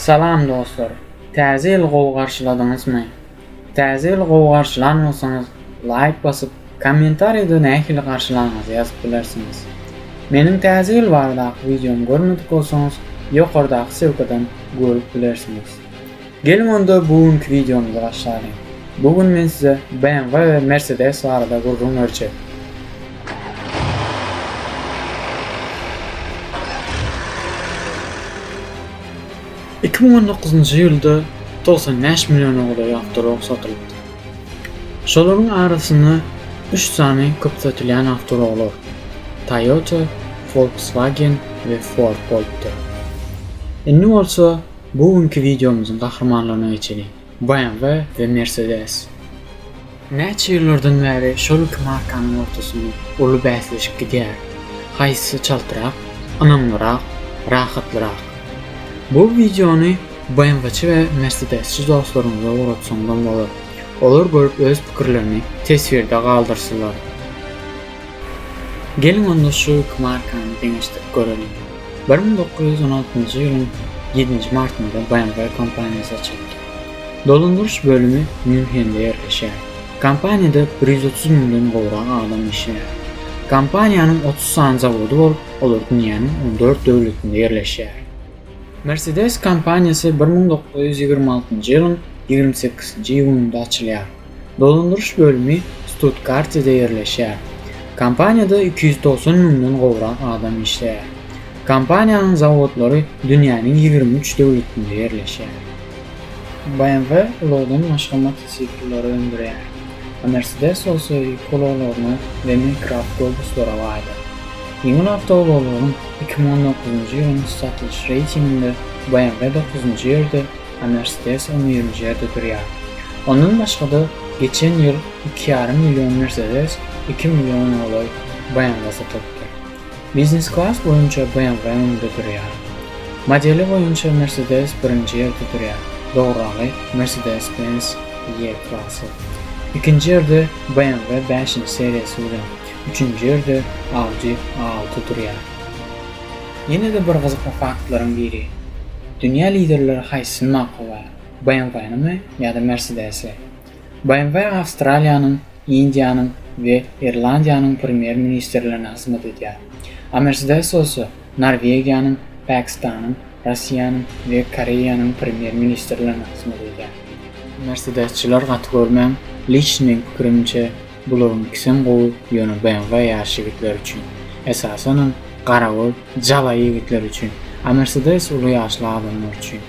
Salam dostlar! Täze ýyly gowy garşyladyňyzmy? Täze ýyly gowy garşylan bolsaňyz, laýk basyp, kommentariýada nähili garşylanyňyzy ýazyp bilersiňiz. Meniň Täze ýyl baradaky wideomy görmedik bolsaňyz, ýokardaky ssylkadan görüp bilersiňiz. Geliň onda bu günki wideomyzy başlalyň. Bu gün men size BMW we Mercedes barada gürrüň berjek. Iki müň on dokuzynjy ýylda togsan bäş milliona golaý awtorog satylypdy. Şolaryň arasynda üç sany köp satylýan awtoroglar, Toyota, Volkswagen we Ford bolupdyr. Indi bolsa bu günki wideomyzyň gahrymanlaryna geçeliň. BMW we Mercedes näçe ýyllardan bäri şol iki markanyň ortasynda uly bäsleşip gidýär, haýsy çaltrak, ynamlyrak, rahatlyrak. Bu wideony BMW-çi we Mercedes-çi dostlaryňyza ugratsaňyzam bolar. Olar görüp öz pikirlerini teswirde galdyrsylar. Geliň onda şu iki markany deňeşdirip göreliň. Bir müň dokuz ýüz on altynjy ýylyň ýedinji martynda BMW kompaniýasy açyldy. Dolandyryş bölümi Mýunhende ýerleşýär. Kompaniýada bir ýüz otuz müňden gowrak adam işleýär. Kompaniýanyň otuz sany zawody bolup, olar dünýäniň on dört döwletinde ýerleşýär. Mercedes kompaniýasy bir müň dokuz ýüz ýigrimi altynjy ýylyň ýigrimi sekizinji iýunynda açylýar. Dolandyryş bölümi Stuttgartede ýerleşýär. Kompaniýada iki ýüz togsan müňden gowrak adam işleýär. Kompaniýanyň zawodlary dünýäniň ýigrimi üç döwletinde ýerleşýär. BMW ulagdan başga motosiklleri öndürýär. Mercedes bolsa ýük ulaglaryna we mikroawtobuslara baýdyr. Ýeňil awtoulaglaryň iki müň on dokuzynjy ýylyň satylyş reýtinginde BMW dokuzynjy ýerde, Anestezi oniýelinji ýerde durýar. Ondan başga-da, geçen ýyl iki ýarym million Mercedes iki milliona golaý BMW satylypdyr. Biznes-klass boýunça BMW öňde durýar. Modeli boýunça Mercedes birinji ýerde durýar, dogryragy Mercedes-Benz E-klassy. Ikinji ýerde BMW bäşinji seriýasy bilen, üçünji ýerde Audi A altı durýar. Ýene-de bir gyzykly faktlaryň biri, dünýä liderleri haýsysyny makullaýar, BMW-nimi ýa-da Mersedesi? BMW Awstraliýanyň, Indiýanyň we Irlandiýanyň premýer-ministrlerine hyzmat edýär. A Mersedes bolsa Norwegiýanyň, Pakistanyň, Russiýanyň we Koreýanyň premýer-ministrlerine hyzmat edýär. Mersedesçiler gaty görmäň, liçni meň pikirimçe, Bularyň ikisem gowy ýöne BMW ýaş ýigitler üçin. Esasanam garagol jaba ýigitler üçin. A Mercedes uly ýaşly adamlar üçin.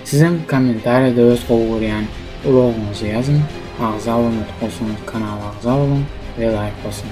Sizem kommentariýada öz gowy görýän ulagyňyzy ýazyň, agza bolmadyk bolsaňyz kanala agza boluň we laýk basyň.